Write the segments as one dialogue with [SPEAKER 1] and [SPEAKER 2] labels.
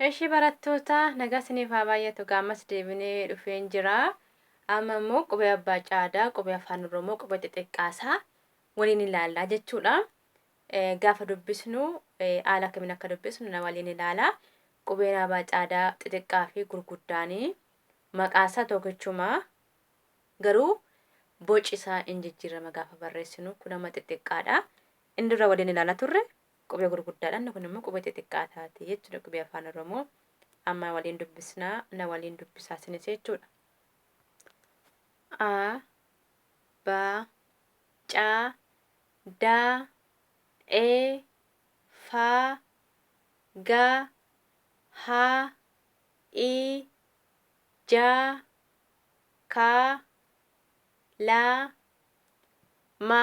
[SPEAKER 1] Eshi barattoota nagaa isiniif haa baay'atu gaa ammas deebinee dhufeen jira. Amma immoo qubee abbaa caadaa, qubee afaan oromoo, qubee xixiqqaasaa waliin ilaallaa jechuudha. Eh, Gaafa dubbisnu eh, haala akkamiin akka dubbisnu na waliin ilaala. Qubeen abbaa caadaa xixiqqaa fi gurguddaanii maqaasaa tokkichuma garuu boci isaa in jijjiirama gaafa barreessinu kun amma xixiqqaadha. Inni dura waliin ilaala turre Qubee gurguddaadhaan kun immoo qubee xixiqqaa taati jechuudha qubee afaan oromoo amma waliin dubbisnaa na waliin dubbisaa sinis jechuudha. A ba ca da e fa ga ha i ja ka la ma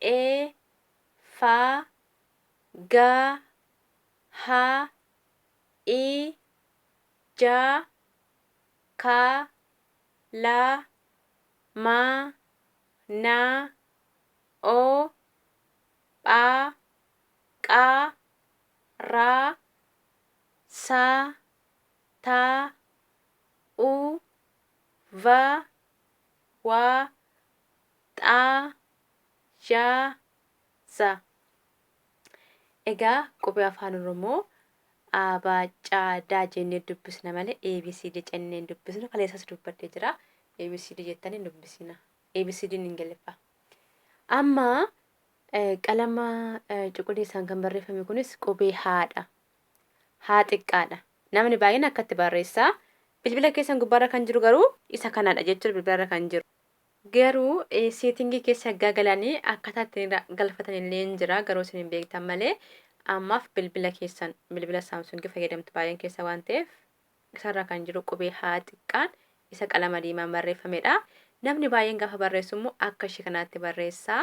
[SPEAKER 1] e fa ga ha i ja ka la ma na o pha qa ra sa ta u va wa Xa, ja, za. Egaa qubee Afaan Oromoo A, B, C, D jennee dubbisna malee ABCD jennee hin dubbisnu. Kaleessas dubbadhee jira. ABCD jettanii hin dubbisina. ABCDn hin galiffaa. Amma eh, qalama eh, cuquliisaan kan barreeffame kunis qubee haadha. Haa xiqqaadha. Namni baay'een akkatti barreessaa. Bilbila keessan gubbaarra kan jiru garuu isa kanadha jechuudha bilbilarra kan jiru. Garuu setting keessa haggaa galanii akkaataa ittiin galfatan illee hin jira garuu isin hin beektan malee ammaaf bilbila keessan bilbila saamsungii fayyadamtu baay'een keessa waan ta'eef isarra kan jiru qubee haa xiqqaan isa qalama diimaan barreeffamedha. Namni baay'een gaafa barreessu immoo akka ishee kanaatti barreessa.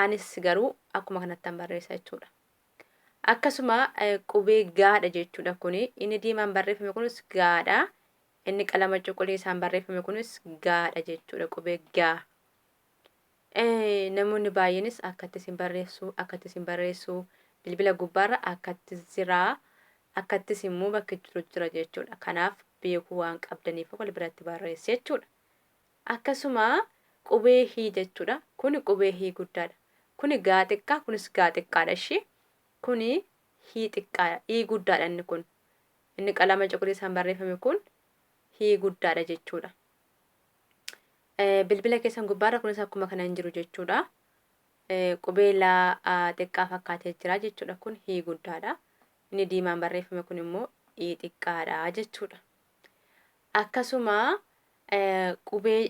[SPEAKER 1] Anis garuu akkuma kanattan barreessa jechuudha. Akkasuma qubee gaadha jechuudha kuni inni diimaan barreeffame kunis gaadha. Inni qalama cuquliisaan barreeffame kunis gaa dha jechuudha qubee gaa. Namoonni baay'eenis akkatti isin barreessu, akkatti isin barreessu, bilbila gubbaarra akkatti jira, akkattis immoo bakki jiru jira jechuudha. Kanaaf beekuu waan qabdaniif wal biratti barreessi jechuudha. Akkasuma qubee hii jechuudha. Kuni qubee hii guddaadha. Kuni gaa xiqqaa, kunis gaa xiqqaadha ishii. Kuni hii xiqqaadha, hii guddaadha inni kun. Inni qalama cuquliisaan barreeffame kun Hi guddaadha jechuudha. Bilbila keessan gubbaarra kunis akkuma kana hin jiru jechuudha. Qubee laa xiqqaa fakkaatee jira jechuudha. Kun Hi guddaadha. Inni diimaan barreeffame kun immoo I xiqqaadha jechuudha. Akkasuma qubee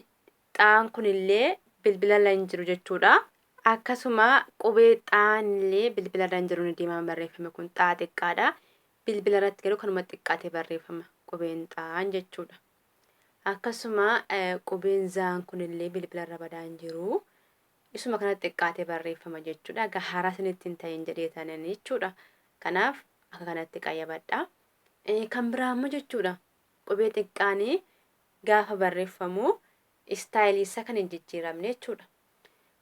[SPEAKER 1] xaan kun illee bilbilarra hin jiru jechuudha. Akkasuma qubee xaan illee bilbilarra hin jiru inni diimaan barreeffame kun xaa xiqqaadha. Bilbila irratti garuu kanuma xiqqaate barreeffama qubeen xaan jechuudha. Akkasuma qubeen zaan kunillee bilbila irra badaa hin jiru. Isuma kana xiqqaate barreeffama jechuudha. Egaa haaraa isinitti hin ta'in jedhee tanan jechuudha. Kanaaf akka kanatti qayyabadha. Kan biraa immoo jechuudha qubee xiqqaanii gaafa barreeffamu istaayilii isaa kan hin jijjiiramne jechuudha.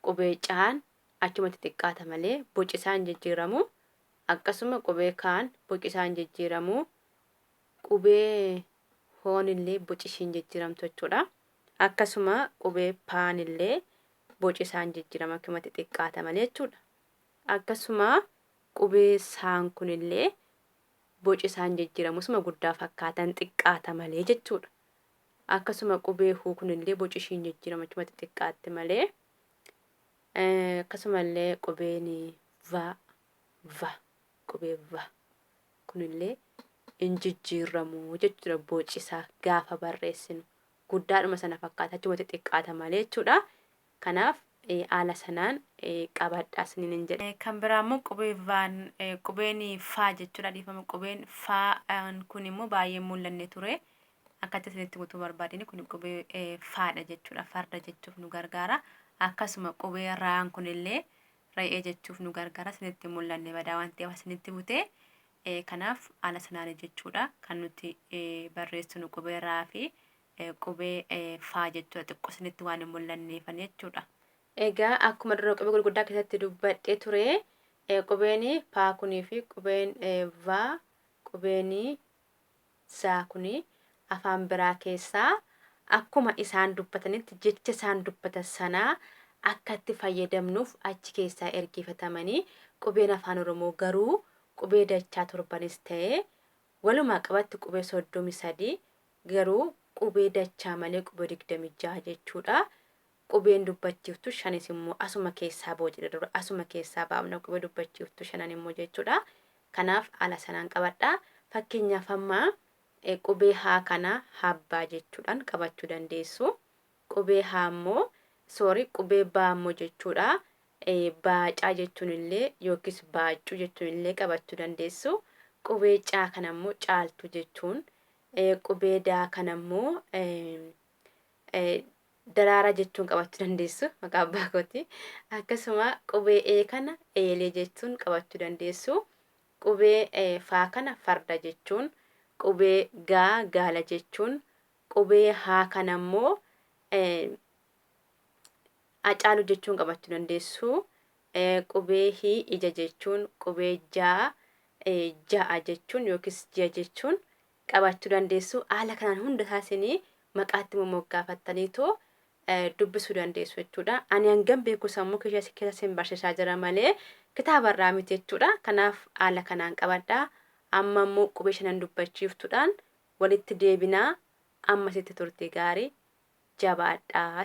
[SPEAKER 1] Qubee caan achumatti xiqqaata malee boci isaa hin jijjiiramu. Akkasuma qubee kaan bocisaan jijjiiramu. Qubee hoon illee boci ishiin jijjiiramtu jechuudha. Akkasuma qubee paan illee boci isaan jijjiirama akkumatti xiqqaata malee jechuudha. Akkasuma qubee saan kun illee boci isaan jijjiiramu isuma guddaa fakkaatan xiqqaata malee jechuudha. Akkasuma qubee huu kun illee boci ishiin jijjiirama achumatti xiqqaatti malee Akkasumallee qubeen va, va, qubee va kunillee hin jijjiirramu jechuudha bocisaa gaafa barreessinu. Guddaadhuma sana fakkaata achumatti xiqqaata malee jechuudha. Kanaaf haala sanaan qabadhaa isiniin hin jedhe. Kan biraa immoo qubee vaan qubeen faa jechuudha dhiifama qubeen faa kun immoo baay'ee mul'anne ture. Akkatti isinitti guutuu barbaadini kun qubee eh, faadha jechuudha. Farda jechuuf nu gargaara. Akkasuma qubee raan kunillee re'ee jechuuf nu gargaara. Isinitti mul'anne badaa waan ta'eef isinitti butee eh, kanaaf haala sanaani jechuudha. Kan nuti eh, barreessinu qubee raa fi eh, qubee eh, faa jechuudha. Xiqqoo isinitti waan hin mul'anneefan jechuudha. Egaa akkuma dura qubee gurguddaa keessatti dubbadhee ture eh, qubeen paa kunii fi qubeen eh, vaa qubeen Zaa kun afaan biraa keessaa akkuma isaan dubbatanitti jecha isaan dubbatan sana akka itti fayyadamnuuf achi keessaa ergiifatamanii qubeen afaan oromoo garuu qubee dachaa torbanis ta'ee walumaa qabatti qubee 33 garuu qubee dachaa malee qubee 26 jechuudha Qubeen dubbachiiftu shanis immoo asuma keessaa boocdha dura. Asuma keessaa baafna qubee dubbachiiftu shanan immoo jechuudha. Kanaaf haala sanaan qabadha. Fakkeenyaaf amma qubee haa kana habbaa jechuudhaan qabachuu dandeessu. Qubee haa immoo sorry qubee baa immoo jechuudha. Baacaa jechuun illee yookiis baaccuu jechuun illee qabachuu dandeessu. Qubee caa kana immoo caaltuu jechuun qubee daa kana immoo daraaraa jechuun qabachuu dandeessu maqaa abbaa kooti. Akkasuma qubee ee kana eeyalee jechuun qabachuu dandeessu. Qubee faa kana farda jechuun, qubee gaa gaala jechuun, qubee haa kana immoo acaalu jechuun qabachuu dandeessu. Qubee hii ija jechuun, qubee jaa ja'a jechuun yookiis ji'a jechuun qabaachuu dandeessu. Haala kanaan hunda isaa isin maqaatti momoggaafattaniitu dubbisuu dandeessu jechuudha. Ani hangam beeku sammuu keessa keessa sin barsiisaa jira malee kitaaba irraa miti jechuudha. Kanaaf haala kanaan qabadha. Amma immoo qubee shanan dubbachiiftuudhaan walitti deebinaa ammasitti turtii gaarii jabaadhaa.